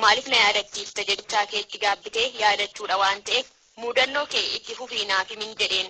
Maaliif na yaadachiifta jechaa kee itti gaabbitee yaadachuudha waan ta'eef muudannoo kee itti fufii naaf himin jedheen.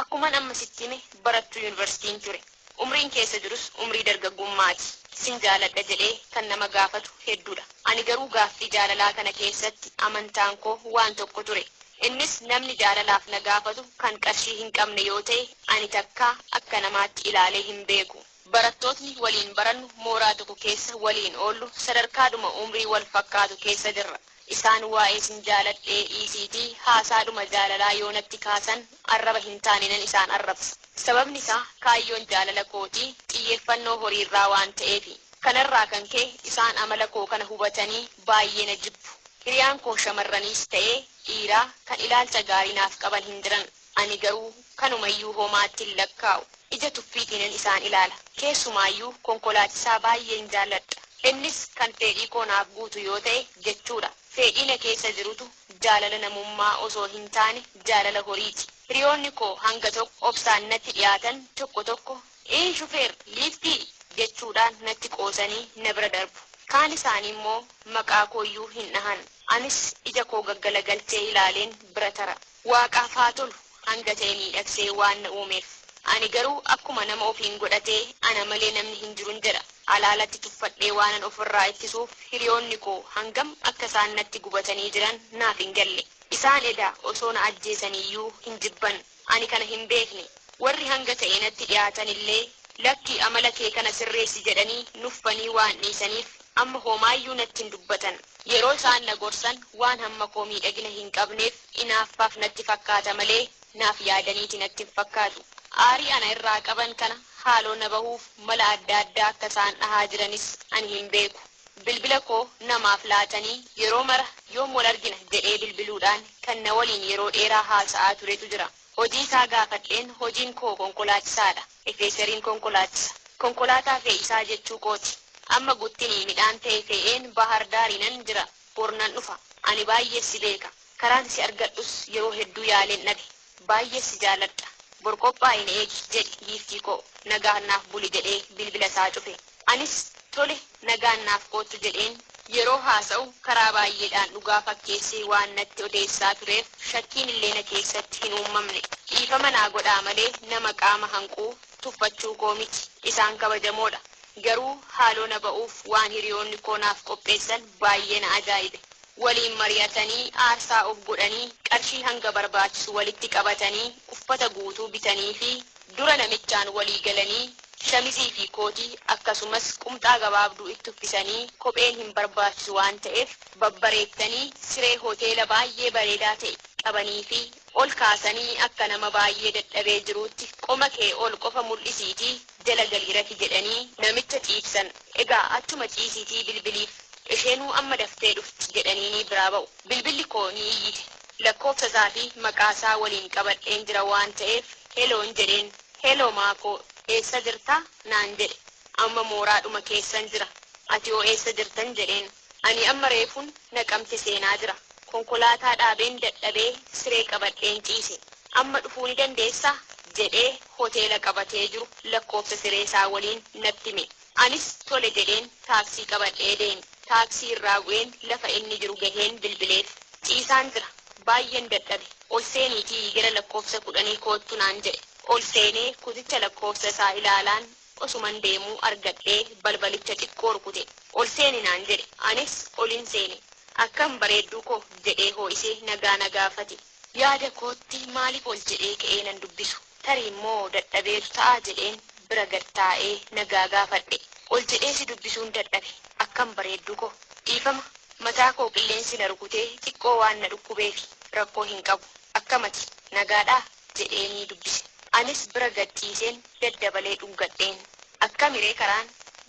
Akkuman amma sitti hime barattuu yunivarsiitiin ture. Umriin keessa jirus umrii dargaggummaati. Sin jaaladha jedhee kan nama gaafatu hedduudha. Ani garuu gaaffii jaalalaa kana keessatti amantaan koo waan tokko ture. Innis namni jaalalaaf na gaafatu kan qarshii hin qabne yoo ta'e ani takkaa akka namaatti ilaalee hin beeku. Barattootni waliin barannu, mooraa tokko keessa waliin oollu, sadarkaadhuma umrii wal fakkaatu keessa jirra. Isaan waa'ee sin jaaladhee dhiisiitii haasaadhuma jaalalaa yoo natti kaasan arraba hin taaneenan isaan arrabsa. Sababni isaa kaayyoon jaalala kootii xiyyeeffannoo horiirraa waan ta'eefi. Kanarraa kan ka'e isaan amala koo kana hubatanii baay'ee na jibbu. Hiriyaan koo shamarraniis ta'ee dhiiraa kan ilaalcha gaarii naaf qaban hin jiran. Ani garuu kanumayyuu homaatti hin lakkaa'u. Ija tuffiitiinan isaan ilaala. Keessumaayyuu konkolaachisaa baay'een jaalladha. Innis kan feedhii koo naaf guutu yoo ta'e jechuudha. Feedhii na keessa jirutu jaalala namummaa osoo hin taane jaalala horiiti. Hiriyoonni koo hanga tokko obsaan natti dhiyaatan tokko tokko Iin shufeer, liiftii! jechuudhaan natti qoosanii na bira darbu. Kaan isaaniimmoo maqaa kooyyuu hin dhahan. Anis ija koo gaggalagalchee ilaaleen bira tara. Waaqaaf haa tolu, hanga ta'e miidhagsee waan na uumeef. Ani garuu akkuma nama ofiin godhatee ana malee namni hin jirun jedha. Alaa alatti tuffadhee waanan of irraa ittisuuf hiriyoonni koo hangam akka isaan natti gubatanii jiran naaf hin galle. Isaan edaa osoo na ajjeesaniiyyuu hin jibban. Ani kana hin beekne. Warri hanga ta'e natti dhiyaatan illee, Lakki amala kee kana sirreessi jedhanii nuffanii waan dhiisaniif Amma homaayyuu natti hin dubbatan. Yeroo isaan na gorsan waan hamma koo miidhagina hin qabneef inaaffaaf natti fakkaata malee naaf yaadaniiti natti hin fakkaatu. Aarii ana irraa qaban kana haaloo na bahuuf mala adda addaa akka isaan dhahaa jiranis ani hin beeku. Bilbila koo namaaf laatanii yeroo mara yoom wal argina jedhee bilbiluudhaan kan na waliin yeroo dheeraa haasa'aa turetu jira. Hojii isaa gaafadheen hojiin koo konkolaachisaadha. Efeeseriin konkolaachisa. Konkolaataa fe'isaa jechuu kooti. Amma guttini midhaan tee fee'een Baahar Daariinan jira. Bor nan dhufa. Ani baay'ee si beeka. Karaan si argadhus yeroo hedduu yaaleen dhabe. Baay'ee si jaaladha. Bor qophaa'i na eegi, jedhe giiftii koo. Nagaan naaf buli jedhee bilbila isaa cufe. Anis, Tole. nagaan naaf koottu jedheen yeroo haasa'u karaa baay'eedhaan dhugaa fakkeessee waan natti odeessaa tureef shakkiin illee na keessatti hin uummamne. Dhiifama naa godhaa malee nama qaama hanquu tuffachuu koo miti. Isaan kabajamoodha. Garuu haaloo na ba'uuf waan hiriyoonni koo naaf qopheessan baay'ee na ajaa'ibe. Waliin mari'atanii aarsaa of godhanii qarshii hanga barbaachisu walitti qabatanii uffata guutuu bitaniifii. Dura namichaan walii galanii shamizii fi kootii akkasumas qumxaa gabaabduu itti uffisanii kopheen hin barbaachisu waan ta'eef babbareettanii siree hoteela baay'ee bareedaa ta'e qabaniifii ol kaasanii akka nama baay'ee dadhabee jiruutti qoma kee ol qofa mul'isiitii jala galii rafi jedhanii namicha ciibsan. Egaa achuma ciisiitii bilbiliif isheenuu amma daftee dhufti jedhaniinii biraa ba'u. Bilbilli koo ni iyyite. Lakkoofsa isaa fi maqaa isaa waliin qabadheen jira waan ta'eef heloon jedheen. Heloo Maakoo, eessa jirta? naan jedhe. Amma mooraadhuma keessan jira. Atihoo eessa jirtan? jedheen. Ani amma reefun Naqamte seenaa jira. Konkolaataa dhaabeen dadhabee siree qabadheen ciise. Amma dhufuu ni dandeessaa? jedhee hoteela qabatee jiru lakkoofsa sireesaa waliin natti hime. Anis tole jedheen taaksii qabadhee deeme. Taaksii irraa bu'een lafa inni jiru gaheen bilbileef. Ciisaan jira. Baay'een dadhabe. Ol seeniitii gara lakkoofsa kudhanii koottu naan jedhe. Ol seenee kuticha lakkoofsa isaa ilaalaan osuman deemuu argadhee balbalicha xiqqoo rukute. Ol seeni naan jedhe. Anis olin seene. Akkam bareedduu koo jedhee hoo'isee nagaa na gaafate. Yaada kootti maaliif ol jedhee ka'ee nan dubbisu? Tariimmoo dadhabeetu ta'a jedheen bira gad taa'ee nagaa gaafadhe. Ol jedhee si dubbisuun dadhabe. Akkam bareedduu koo! Dhiifama, mataa koo qilleensi na rukutee xiqqoo waan na dhukkubeefi. Rakkoo hin qabu. Akkam ati? Nagaadhaa? jedheenii dubbise. Anis bira gad ciiseen daddabalee dhungadheen. Akkamiree karaan?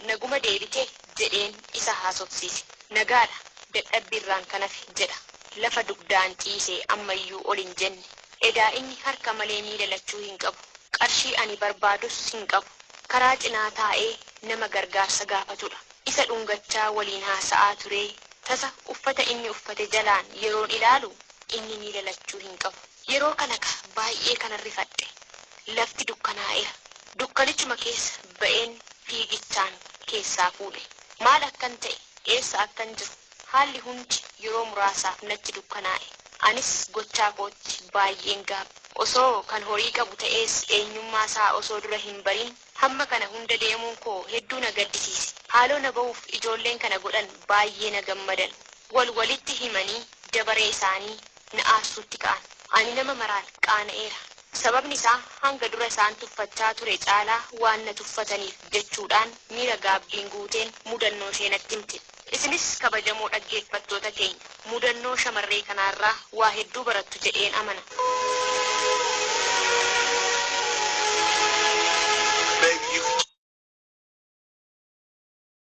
Naguma deebitee? jedheen isa haasofsiise. Nagaadha, dadhabbiirraan kan hafe, jedha. Lafa dugdaan ciise, ammayyuu ol hin jenne. Edaa inni harka malee miila lachuu hin qabu. Qarshii ani barbaadus hin qabu. Karaa cinaa taa'ee nama gargaarsa gaafatudha. Isa dhungachaa waliin haasa'aa turee tasa uffata inni uffate jalaan yeroon ilaalu inni miila lachuu hin qabu. Yeroo kana ka baay'ee kanan rifadhe. Lafti dukkanaa'eera. Dukkanichuma keessa ba'een fiigichaan keessaa fuudhe. Maal akkan ta'e, eessa akkan jiru, haalli hundi yeroo muraasaaf natti dukkanaa'e. Anis gochaa kootti baay'een gaabbe. Osoo kan horii qabu ta'ees eenyummaa isaa osoo dura hin barin hamma kana hunda deemuun koo hedduu na gaddisiise. Haaloo na ba'uuf ijoolleen kana godhan baay'ee na gammadan. Wal walitti himanii dabaree isaanii na aarsuutti ka'an. Ani nama maraan qaana'eera. Sababni isaa hanga dura isaan tuffachaa ture caalaa waan na tuffataniif jechuudhaan miira gaabbiin guuteen mudannoo ishee natti himte. Isinis kabajamoo dhaggeeffattoota keenya, mudannoo shamarree kanaa irraa waa hedduu barattu jedheen amana. Bayyuu.